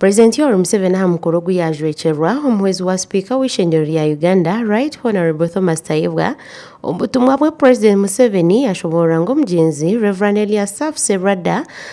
Purezidenti Yoweri Museveni aha mukoro ogu yaajwekyerwa omuhwezi wa sipiika w'eishengyero rya Uganda Right Honourable Thomas Tayebwa. Omu butumwa bwe Purezidenti Museveni yashoboorora ngu omugyenzi Rev Eliasafu Serwadda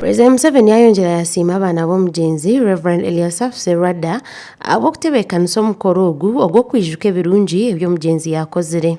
Perezida Museveni yayongyera yasiima abaana b'omugyenzi Rev. Eliasaph Serwadda ahabw'okutebeekanisa omukoro ogu ogw'okwijuka ebirungi ebi omugyenzi yaakozire.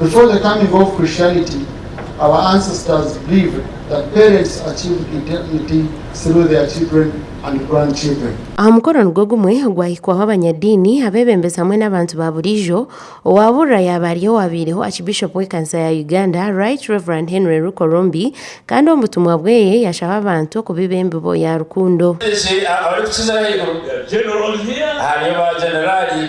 Before the coming of Christianity, our ancestors believed that parents achieved eternity through their children and grandchildren. Aha mukoro nigwo gumwe gwahikwaho abanyadiini, abeebembezi hamwe n'abantu ba buriijo. Owaabuurira yaaba ari owaabaireho Archbishop w'ekanisa ya Uganda, Right Rev. Henry Rukorombi, kandi omu butumwa bweye yashaba abantu okubiba embibo ya rukundo. Ensi abarikukizira ahaiguru hariyo baajeneraali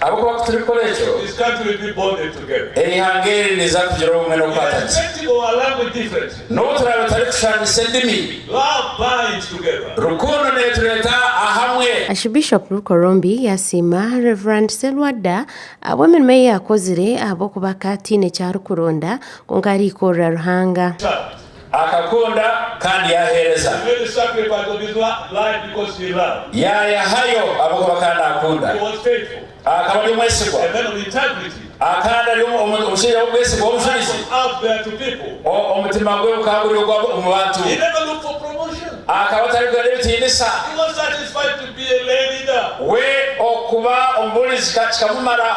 Ahabw'okuba ku turikukora ekyo, eihanga eri niriza kugira obumwe n'okukwata gye. N'obu turaabe tutarikushushaniisa endimi, rukundo neetureeta ahamwe. Archbishop Rukorombi yaasiima Rev. Serwadda ahabw'emirimo ei yaakozire ahabw'okuba akaba ataine eki arikuronda, kwonka araikurira Ruhanga. Akakunda kandi yaaheereza. Yaayehayo ahabw'okuba akaba naakunda. Akaba ari omwesigwa. Akaba ari omushaija w'obwesigwa w'omujulizi. Omutima gwe gukaba guri ogwa omu bantu. Akaba atarikugenda ebitiinisa. We okuba omubuurizi kikamumara.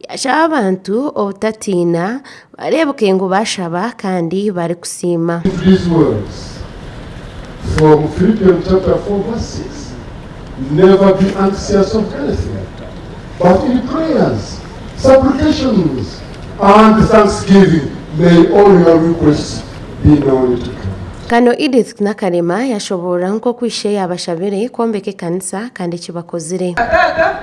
Yashaaba abantu obutatiina, bareebeke ngu baashaba kandi barikusiima. Visuals from Philippians chapter 4 verse 6 Never be anxious of anything, but in prayers, supplications, and thanksgiving may all your requests be known to God. Kano Edith Nakalema yashoboorora nk'oku ishe yaabashabire kwombeka ekanisa kandi eki bakozire. Taata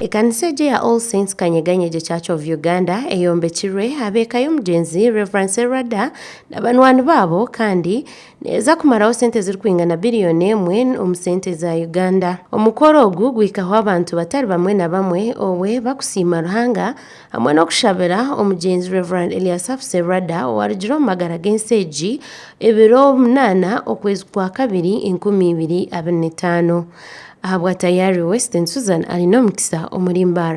Ekanisa egyo eya All Saints Kanyeganyegye Church of Uganda eyombekirwe ab'eka y'omugyenzi Rev. Serwadda na banwani baabo kandi neeza kumaraho sente ezirikwingana biriyoni emwe omu sente za Uganda. Omukoro ogu guhikaho abantu batari bamwe na bamwe obwe bakusiima Ruhanga, hamwe n'okushabira omugyenzi Rev Eliasafu Serwada owarugire omu magara g'ensi egi ebiro munaana okwezi kwa kabiri enkumi ibiri abiri n'etaano ahabwa tayari Western Susan Arin'omukisa omuri Mbar.